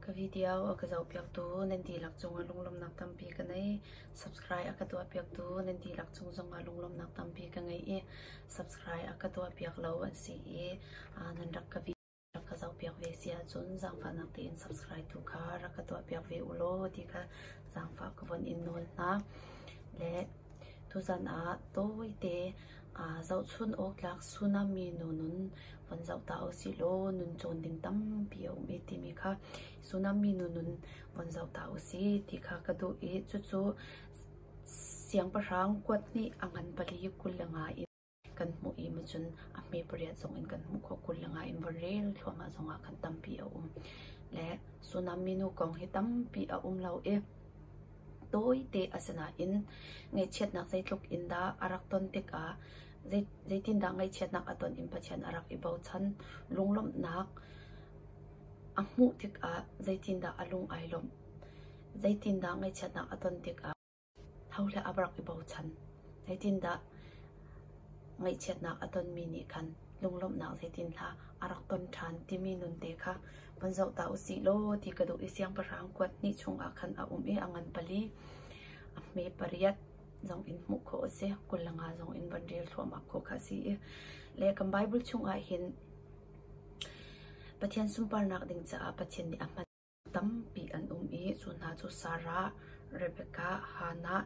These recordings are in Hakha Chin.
Ka video a ka zohpiaktu nan dihlak cungah lunglawmhnak tampi ka ngei. Subscribe a ka tuahpiaktu nan dihlak cung zongah lunglawmhnak tampi ka ngei i subscribe a ka tuahpiak lo an si i nan rak ka video ka zohpiak ve si ahcun zaangfahnak tein subscribe tu kha rak ka tuahpiak ve ulaw ti kha zaangfah ka von in nawl hna. Le Tuchan ah tawite aa zohchunh awktlak tsunami nu nun von zoh ta usihlaw nun cawn ding tampi a um i timi kha tsunami nu nun von zoh ta usih ti kha ka duh i cucu siangpahrang kuat nih a ngan pali kul le nga in a zoh. kan hmuh i macun a hme pariat zong in kan hmuh khawh. Kul le nga in varel thluahmah zongah khan tampi a um. Le tsunami nu kong hi tampi a um lo i tawite asinain ngaihchiatnak zeitluk in dah a rak ton tikah zei- zeitindah ngaihchiatnak a ton in Pathian a rak i bochan. Lunglawmhnak a hmuh tikah zeitindah a lung ai lawmh, zeitindah ngaihchiatnak a ton tikah Ho le a rak i bochan, zeitindah ngaihchiatnak a tonmi nih khan lunglawmhnak zeitinhlah a rak ton ṭhan timi nunte kha vun zoh ta u sih law ti ka duh i siangpahrang kuat hnih chungah khan a um i a ngan pali, a hme pariat zong in hmuh khawh a si. Kul le nga zong in van rel thluahmah khawh kha a si i le kan Baibal chungah hin Pathian sunparnak ding caah Pathian nih a hman. Tampi an um i cu hna cu Sarah, Rebekah, Hannah,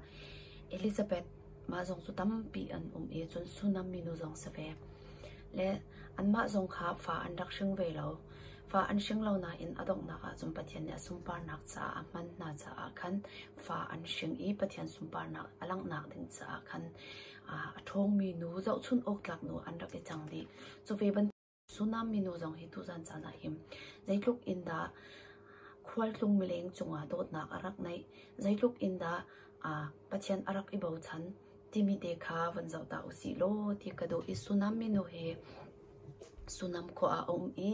Elizabeth mah zong cu tampi an um i cun Sunam minu zong si ve. Le anmah zong kha fa an rak hring ve lo. Fa an hring lo nain a donghnak ahcun Pathian nih a sunparnak caah a hman hna caah khan fa an hring i Pathian sunparnak a langhnak ding caah khan a ṭhawngmi nu zohchunh awk tlak nu an rak i cang dih. Cu ve bantuk Sunaam minu zong hi tuzaan caan ah hin zeitluk in dah khualtlung mileng cungah dawtnak a rak neih, zeitluk in dah Pathian a rak i bochan timi te kha van zoh ta usih law ti ka duh i Sunaam minu hi Sunaam khua ah a um i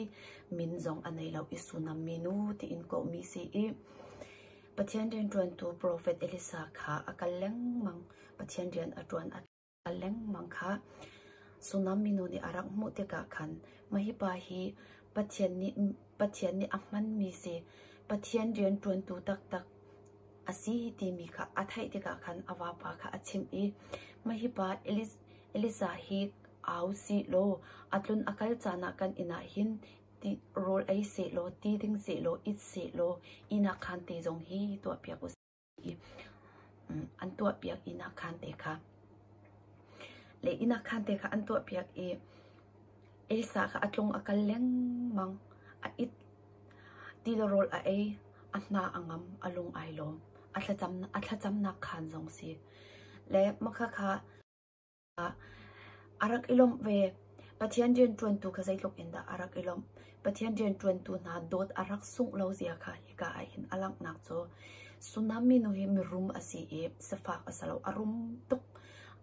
min zong a nei lo i Sunaam minu tiin kawhmi si i Pathian rianṭuantu profet Elisa kha a kal lengmang. Pathian rian a ṭuan a a lengmang kha tsunami nu nih a rak hmuh tikah khan mah hi pa hi Pathian nih a hmanmi si, Pathian rianṭuantu taktak a si timi kha a theih tikah khan a vapa kha a chimh i mah hi pa Elisa hi au si law a tlun a kal caan ah kan inn ah hin ti rawl ei sehlaw ti ding sehlaw it sehlaw inn ah khan ti zong hi tuahpiak u sih. i an tuahpiak inn ah khan te kha le inn ah khan te kha an tuahpiak i Elsa kha a tlung a kal lengmang a it tilarawl a ei a hna a ngam a lung ai lawm a thlacamnak khaan zong si le makhakha A rak i lawmh ve. Pathian rianṭuantu kha zeitluk in dah a rak i lawmh! Pathian rianṭuantu hna dawt a rak sungh lo zia kha hika ahhin a langhnak cu Sunam minu hi mirum a si i sifak a si lo. A rum tuk.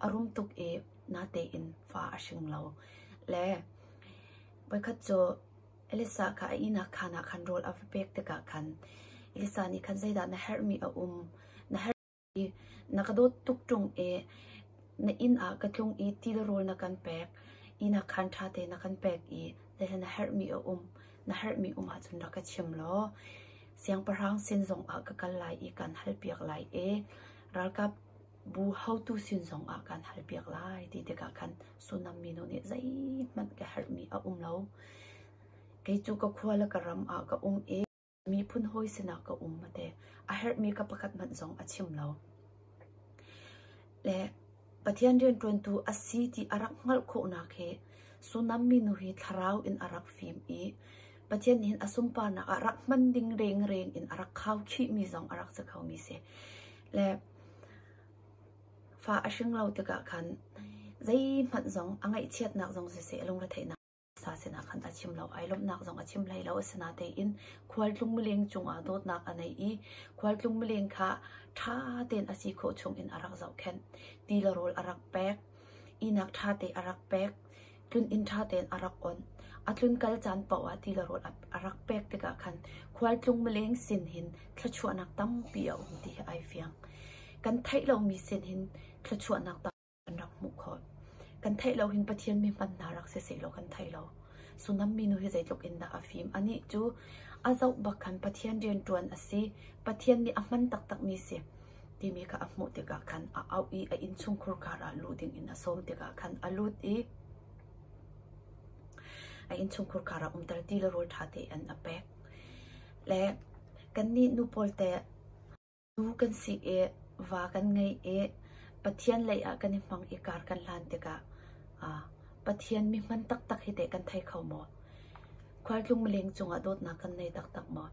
A rum tuk i natein fa a hring lo. Le voikhat cu Elisa kha a ihnak khaan ah khan rawl a va pek tikah khan Elisa nih khan zeidah na herhmi a um? Na herh Na ka dawt tuk ṭung i na inn ah ka tlung i ti le rawl na kan pek. Inn ah khan ṭha tein na kan pek i tihi na herhmi a um. Na herhmi um ahcun rak ka chim law siangpahrang sin zongah ka kal lai i kaan halpiak lai i ralkapbu haotu sin zongah kaan halpiak lai ti tikah khan Sunam minu nih zeihmanh ka herhmi a um lo. Kei cu ka khua le ka ram ah ka um i Miphun hawi sinah ka um a ti. A herhmi ka pakhat hmanh zong a chim lo. Le Pathian rianṭuantu a si ti a rak hngalh khawhnak hi Sunam minu hi thlarau in a rak fim i Pathian nih hin a sunparnak ah rak hman ding rengreng in a rak khau khihmi zong a rak si khomi si. Le fa a hring lo tikah khan zeihmanh zong a ngaihchiatnak zong siseh lungretheihnak sa sinah khan a chim lo, ai lawmhnak zong a chim hlei lo. Asinatein khualtlung mileng cungah dawtnak a nei i khualtlung mileng kha ṭha tein a si khawh chungin a rak zohkhenh. Ti le rawl a rak pek, ihnak ṭha te a rak pek, tlun inn ṭha tein a rak on. A tlun kal caan paoh ah ti le rawl a rak pek tikah khan khualtlung mileng sin hin thluachuahnak tampi a um ti hi ai fiang. Kan theih lomi sin hin thluachuahnak kan rak hmuh khawh. Kan theih lo hin Pathian mi hman hna rak si sehlaw kan thei lo. Sullam minu hi zeitluk in dah a fim. Anih cu a zoh bak khan Pathian rianṭuan a si. Pathian nih a hman taktakmi si timi kha a hmuh tikah khan a auh i a innchungkhur kar ah luh ding in a sawm tikah khan a lut i a innchungkhur kar ah umter ti le rawl ṭha tein a pek. Le kannih nu pawl te Zu kan sik i va kan ngei i Pathian leiah kan i hmang i kar kan hlan tikah Pathian mihman taktak hi teh kan thei kho maw? Khualtlung mileng cungah dawtnak kan nei taktak maw?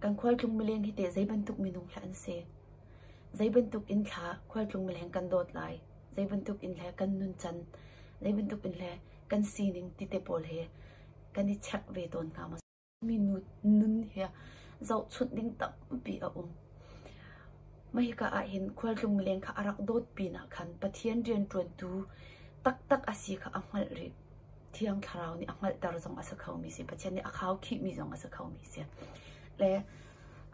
Kan khualtlung mileng hi teh zei bantuk minung hlah an si? Zei bantuk inn thla khualtlung mileng kan dawt lai? Zei bantuk inn le kan nuncan, zei bantuk inn le kan sining ti te pawl hi kan i chek ve tawn hna maw? Minu nun hi zohchunh ding tampi a um. Mah hika ahhin khualtlung leng kha a rak dawt pinah khan Pathian rianṭuantu taktak a si kha a hngalh rih. Thiang Thlarau nih a hngalhter zong a si khomi a si. Pathian nih a khaukhihmi zong a si khomi a si. Le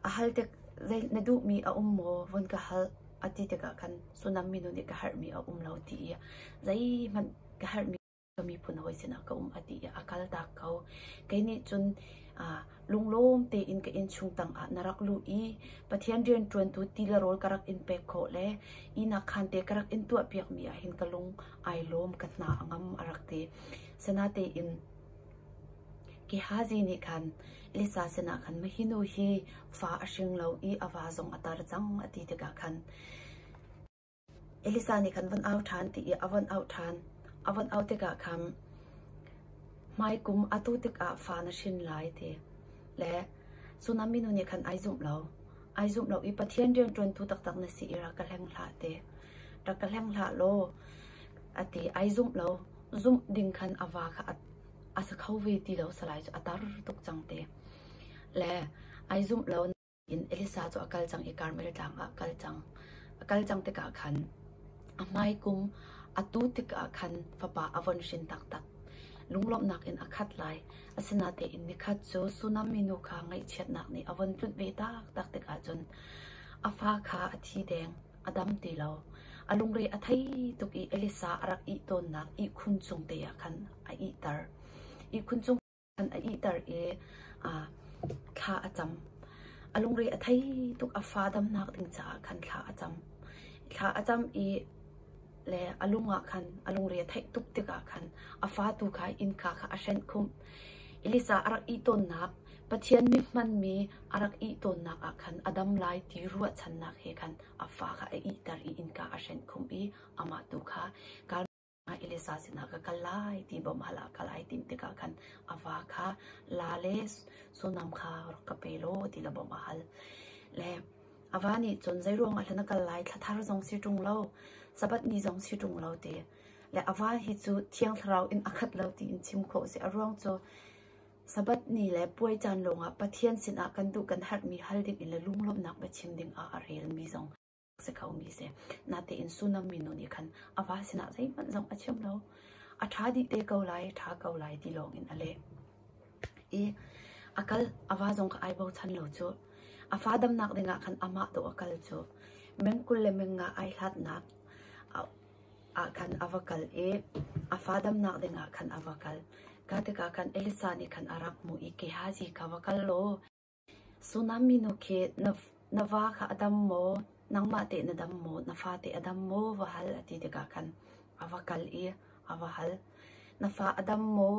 a halte zei na duhmi a um maw? Vun ka hal a ti tikah khan Sunam minu nih ka herhmi a um lo ti i zeihmanh ka herhmi ka miphun hawi sinah ka um a ti i a kaltak ko. Kei nih cun aa lunglawm tein ka innchung tangah na rak luh i Pathian rianṭuantu ti le rawl ka rak in pek khawh le ihnak khaan te ka rak in tuahpiakmi ah hin ka lung ai lawm ka hna a ngam a rak ti. Sanatein Gehazi nih khan Elisa sinah khan mahinu hi fa a hring lo i a va zong a tar cang a ti tikah khan Elisa nih khan von au ṭhan ti i a von auh ṭhan. A von auh tikah khan, hmaikum atu tikah fa na hrin lai, ti. Le Sunam minu nih khan ai zumh lo. Ai zumh lo i Pathian rianṭuantu taktak na si i rak ka hleng hlah ti. Rak ka hleng hlah law, a ti. Ai zumh lo. Zumh ding khan a va kha a, a sa kho ve ti lo salai cu a tar tuk cang ti. Le ai zumh lo. in Elisa cu a kal cang i Karmel tlang ah kal cang. A kal cang tikah khan a hmai kung a tu tikah khan fapa a von hrin taktak. Lunglawmhnak in a khat lai, asinatein nikhat cu Sunam minu kha ngaihchiatnak nih a von tlunh ve taktak tikah cun a fa kha a thi deng, a dam ti lo. A lungre a thei tuk i Elisa a rak ih tawnnak ihkhun cung te ah khan a ihter. Ihkhun cung an ihter i thla a cam. A lungre a thei tuk a fa damnak ding caah khan thla a cam. Thla a cam i le a lung ah khan a lungre a theih tuk tikah khan a fa tu kha innka kha a hrenh khumh. Elisa a rak ih tawnnak Pathian mit hmanmi a rak ih tawnnak ah khan a dam lai ti ruahchannak he khan a fa kha a ihter i innka a hrenh khumh i amah tu kha Mah Elisa sinah ka kal lai ti bawm hal ah kal ai tim tikah khan a va kha la le sullam kha rak ka pe law ti la bawm a hal. Le a va nih cun zeiruang ah hlan a kal lai thlathar zong si ṭung lo, Sabbath ni zong si ṭung lo ti. Le a va hi cu thiang thlarau in a khat lo ti in chim khawh si. A ruang cu Sabbath ni le puai caan lawng ah Pathian sinah kan duh kan herhmi hal ding in le lunglawmhnak biachim ding ah a relmi zong si khomi si. Natein tsunami nu nih khan a va sinah zeihmanh zong a chim lo. A ṭha dih te ko lai, ṭha ko lai ti lawngin a leh. I a kal a va zong kha ai bochan lo cu. A fa damnak dingah khan amah to a kal cu. Meng kul le meng nga ai hlatnak ah khan a va kal i a fa damnak dingah khan a va kal. Ka tikah khan Elisa nih khan a rak hmuh i Gehazi kha va kal law Tsunami nu khi na va kha a dam maw, nangmah teh na dam maw, na fate a dam maw va hal a ti tikah khan a va kal i a va hal. Na fa a dam maw,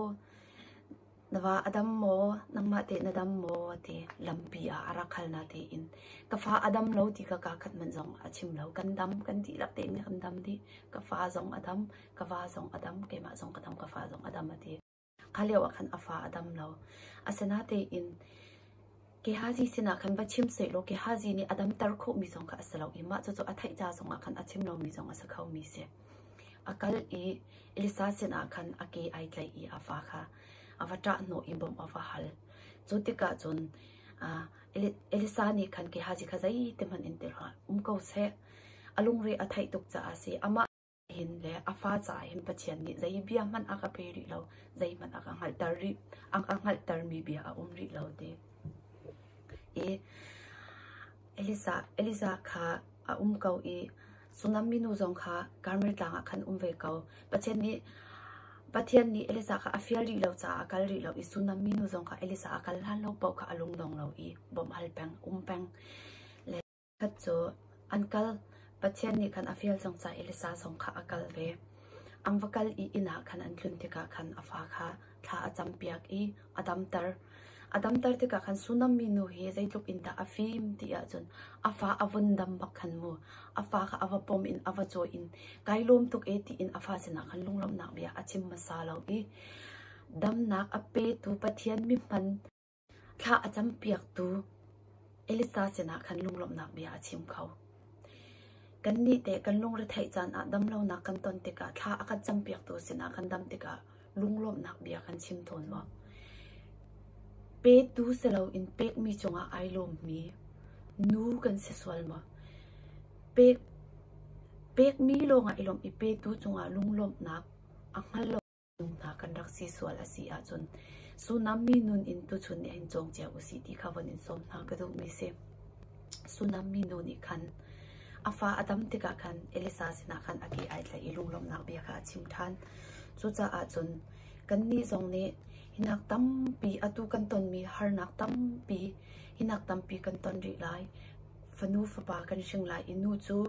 na va a dam maw, nangmah teh na dam maw a ti. Lampi ah a rak hal na tein ka fa a dam lo ti kha kaakhat hmanh zong a chim lo. Kan dam kan dihlak tein kan dam dih. Ka fa zong a dam, ka va zong a dam, keimah zong ka dam, ka fa zong a dam a ti. Kha lio ah khan a fa a dam lo. Asinatein Gehazi sinah khan va chim sehlaw Gehazi nih a damter khawhmi zong kha a si lo i mah cucu a theih ca zongah khan a chim lomi zong a si khomi a si. A kal i Elisa sinah khan a ke ai tlaih i a fa kha a va ṭahhnawh i bawmh a va hal. Cu tikah cun Elisa nih khan Gehazi kha zeitikhmanh in ti hlah, um ko seh, a lungre a theih tuk caah a si. Amah hin le a fa caah hin Pathian nih zei bia hmanh a ka pe rih lo, zeihmanh a ka hngalhter rih, a ka hngalhtermi bia a um rih lo te. I Elisa, Elisa kha a um ko i Sunam minu zong kha Karmel tlang ah khan um ve ko. Pathian nih Pathian nih Elisa kha a fial rih lo caah a kal rih lo i Sunam minu zong kha Elisa a kal hlan lo paoh kha a lungnong lo i bawmh hal peng, um peng. Khat cu an kal. Pathian nih khan a fial cang ca i Elisa zong kha a kalh ve. An va kal i inn ah khan an tlun tikah khan a fa kha thla a campiak i a damter. A damter tikah khan Sunam mi nu hi zeitluk in dah a fim ti ahcun a fa a vun dam bak khan mu. A fa kha a va pom in a va caw in kai lawm tuk e tiin a fa sinah khan lunglawmhnak bia a chim hmasa lo i damnak a petu Pathian mithman Thla a campiaktu Elisa sinah khan lunglawmhnak bia a chim kho. Kannih teh kan lungretheih caan ah damlonak kan ton tikah thla a kan campiaktu sinah kan dam tikah lunglawmhnak bia kan chim tawn maw? Petu si loin pekmi cungah ai lawmmi nu kan si sual maw? Pekmi lawngah i lawmh i petu cungah lunglawmhnak a hngal lo. Minung hna kan rak si sual a si ahcun Sullam mi nun in tuchun nih hin cawng cio usih ti kha von in sawm hna ka duhmi si. Sullam mi nu nih khan a fa a dam tikah khan Elisa sinah khan a ke ai tlaih i lunglawmhnak bia kha a chim ṭhan. Cucaah cun kannih zong nih hinak tampi atu kan tonmi harnak tampi hinak tampi kan ton rih lai. Fanu fapa kan hring lai i nu cu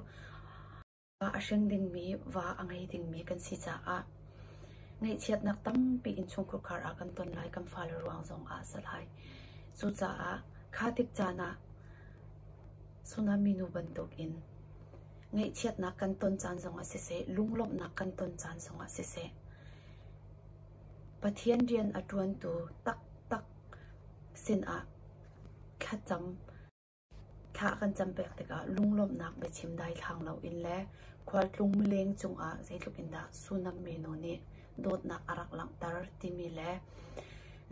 Ah a hring dingmi, va a ngei dingmi kan si caah ngaihchiatnak tampi in chungkhur khar ah kan ton lai kan fale ruang zongah a si lai. Cucaah kha tik caan ah tsunami nu bantukin ngaihchiatnak kan ton caan zongah siseh, lunglawmhnak kan ton caan zongah siseh, Pathian rian a ṭuantu taktak sinah thlacam Thla kan cam pek tikah lunglawmhnak biachim daithlang loin le khualtlung mileng cungah zeitluk in dah Sunam minu nih dawtnak a rak langhter timi le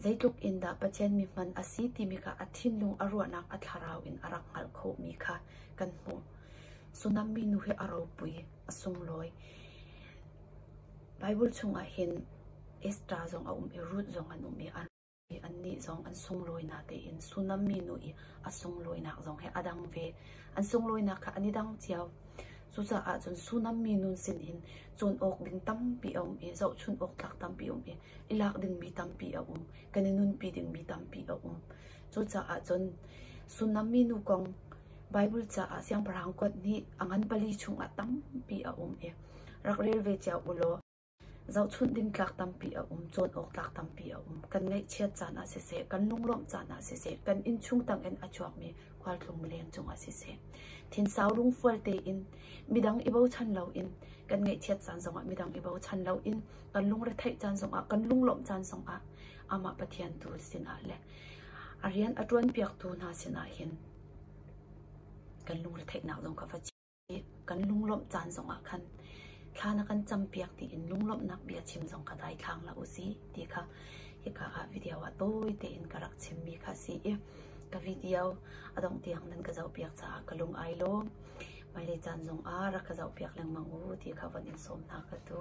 zeitluk in dah Pathian mi hman a si timi kha a thinlung a ruahnak a thlarau in a rak hngalh khawhmi kha kan hmuh. Sunam minu hi a ropui, a sunglawi. Baibal chungah hin Esther zong a um i Ruth zong an um i an rak um. Annih zong an sunlawinak tein Sunam minu i a sunglawinak zong hi a dang ve. An sunglawinak kha an i dang cio. Cucaah cun Sunam minu sinin cawn awk ding tampi a um i zohchunh awk tlak tampi a um i i lak dingmi tampi a um. Kan i nunpi dingmi tampi a um. Cucaah cun Sunam minu kong Baibal caah Siangpahrang kuat nih a ngan pali chungah tampi a um i rak rel ve cio u law Zohchunh ding tlak tampi a um, cawn awktlak tampi a um. Kan ngaihchiat caan ah siseh, kan lunglawmh caan ah siseh, kan innchung tangin a chuakmi khualtlung mileng cungah siseh, thinsau lungfual tein midang i bochan loin kan ngaihchiat caan zongah midang i bochan loin kan lungretheih caan zongah, kan lunglawmh caan zongah amah Pathian tu sinah le a rian a ṭuanpiaktu hna sinah hin kan lungretheihnak zong kha va chim. i kan lunglawmh caan zongah khan thla na kan campiak tiin lunglawmhnak bia chim zong kha daithlang hlah u sih ti kha hika ah video ah tawi tein ka rak chimmi kha a si i ka video a dongh tiang nan ka zohpiak caah ka lung ai lawm hmailei caan zongah rak ka zohpiak lengmang u ti kha von in sawm hna ka tu.